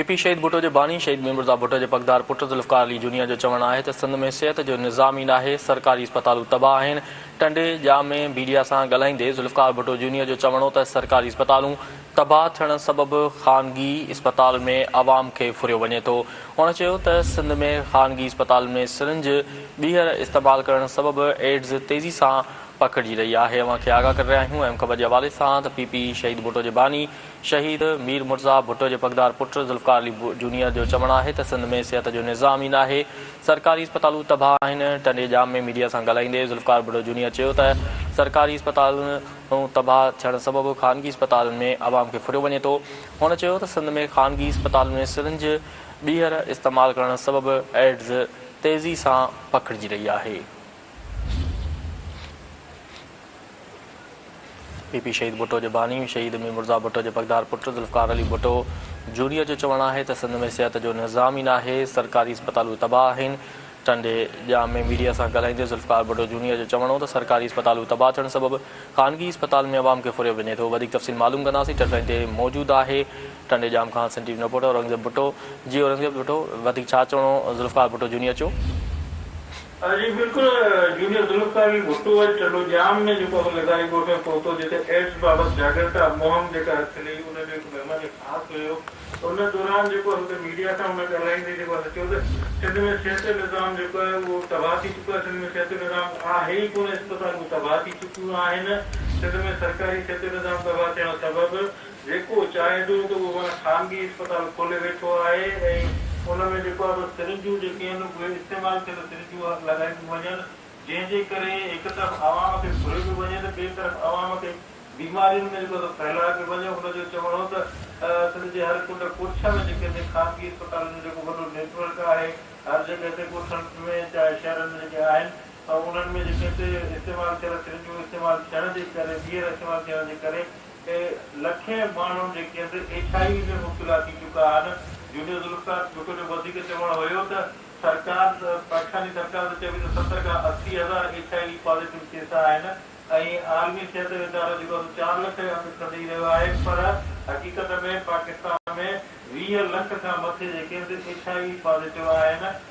P P شهيد ڀٽو جو باني شهيد ميرمرزا ڀٽو جي پڳدار پٽ ذوالفقار علي جونيئر جو چوڻ آهي ته سنڌ ۾ صحت جو نظام ئي ناهي، سرڪاري اسپتالون تباهه آهن، ٽنڊي، ڄامي، ميڊيا سان ڳالهائيندي ذوالفقار ڀٽو جونيئر جو چوڻ هو ته سرڪاري اسپتالون تباهه ٿيڻ سبب خانگي اسپتال ۾ عوام کي ڦريو وڃي ٿو، هن چيو ته سنڌ ۾ خانگي اسپتالن ۾ سرنج ٻيهر استعمال ڪرڻ سبب ايڊز تيزي سان پکڙجي رهي آهي، اوهان کي آگاهه ڪري رهيا آهيون ايم خبر جي حوالي سان ته پي پي شهيد ڀٽو جي باني شهيد مير مرزا ڀٽو جي پڳدار پٽ ذوالفقار علي جونيئر جو چوڻ آهي ته سنڌ ۾ صحت جو نظام ئي ناهي، سرڪاري اسپتالون تباهه آهن، ٽنڊي ڄام ۾ ميڊيا سان ڳالهائيندي ذوالفقار ڀٽو جونيئر چيو ته سرڪاري اسپتالون تباهه ٿيڻ سبب خانگي اسپتالن ۾ عوام کي ڦريو وڃي ٿو، هن چيو ته سنڌ ۾ خانگي اسپتالن ۾ سرنج، ٻيهر، استعمال ڪرڻ سبب ايڊز تيزي سان پکڙجي رهي آهي. پي پي شهيد ڀٽو جي باني شهيد مير مرزا ڀٽو جي پڳدار پٽ ذوالفقار علي ڀٽو جوڻيء جو چوڻ آهي ته سنڌ ۾ صحت جو نظام ئي ناهي، سرڪاري اسپتالون تباهه آهن. ٽنڊي ڄام ۾ ميڊيا سان ڳالهائيندي ذوالفقار ڀٽو جوڻيء جو چوڻ هو ته سرڪاري اسپتالون تباهه ٿيڻ سبب خانگي اسپتال ۾ عوام کي ڦريو وڃي ٿو. وڌيڪ تفصيل معلوم ڪنداسين ٽيلي لائين تي موجود آهي ٽنڊي ڄام کان Sindh T V reporter Aurangzeb Bhutto جي اورنگزيب ڀٽو وڌيڪ ڇا چوڻو ذوالفقار ڀٽو جوڻيء چو. جي بلڪل جونيئر ذوالفقار علي ڀٽو اڄ ٽنڊو ڄام ۾ جيڪو اهو لغاري ڳوٺ ۾ پهتو جتي ايڊز بابت جاڳرتا مهم جيڪا اٿلي ان جو هڪ مهمان خاص هيو ته ان دوران جيڪو هتي ميڊيا سان هن ڳالهائيندي جيڪو هن چيو ته سنڌ ۾ صحتي نظام جيڪو آهي اهو تباهه ٿي چڪو آهي سنڌ ۾ صحتي نظام آهي ئي ڪونه اسپتالون تباهه ٿي چڪيون آهن سنڌ ۾ سرڪاري صحتي نظام تباهه ٿيڻ سبب جيڪو چاهي ٿو ته اهو هاڻي خانگي اسپتال کولي ويٺو آهي ۽ ان ۾ جيڪو آهي بس سرنجون جيڪي آهن اهي استعمال ٿيل سرنجون لڳاينديون وڃن جنهن جي ڪري هڪ طرف عوام کي گهريو پيو وڃي ته ٻئي طرف عوام کي بيمارين ۾ جيڪو سو ڦهلائي پيو وڃي ان جو چوڻ هو ته سنڌ جي هر ڪنڊ ڪوٺ ۾ جيڪي سائين خانگي اسپتالن جو جيڪو وڏو نيٽورڪ آهي هر جڳهه تي ڳوٺن ۾ چاهي شهرن ۾ جيڪي آهن انهن ۾ جيڪي سي استعمال ٿيل سرنجون استعمال ٿيڻ جي ڪري ٻيهر استعمال ٿيڻ جي ڪري تي لکين ماڻهن جي ڪيندي ايڇ آء وي ۾ مبتلا ٿي چڪا آهن، جونيئر ذوالفقار ڀٽو جو وڌيڪ چوڻ هيو ته سرڪار پاڪستاني سرڪار ته چوي ته ستر کان اسي هزار H I V positive case آهن ۽ عالمي صحت جو ادارو جيڪو آهي سو چار لک جا آنڪڙا ڏئي رهيو آهي پر حقيقت ۾ پاڪستان ۾ ويهه لک کان مٿي جي ڪيندي ايڇ آء وي پازيٽو آهن.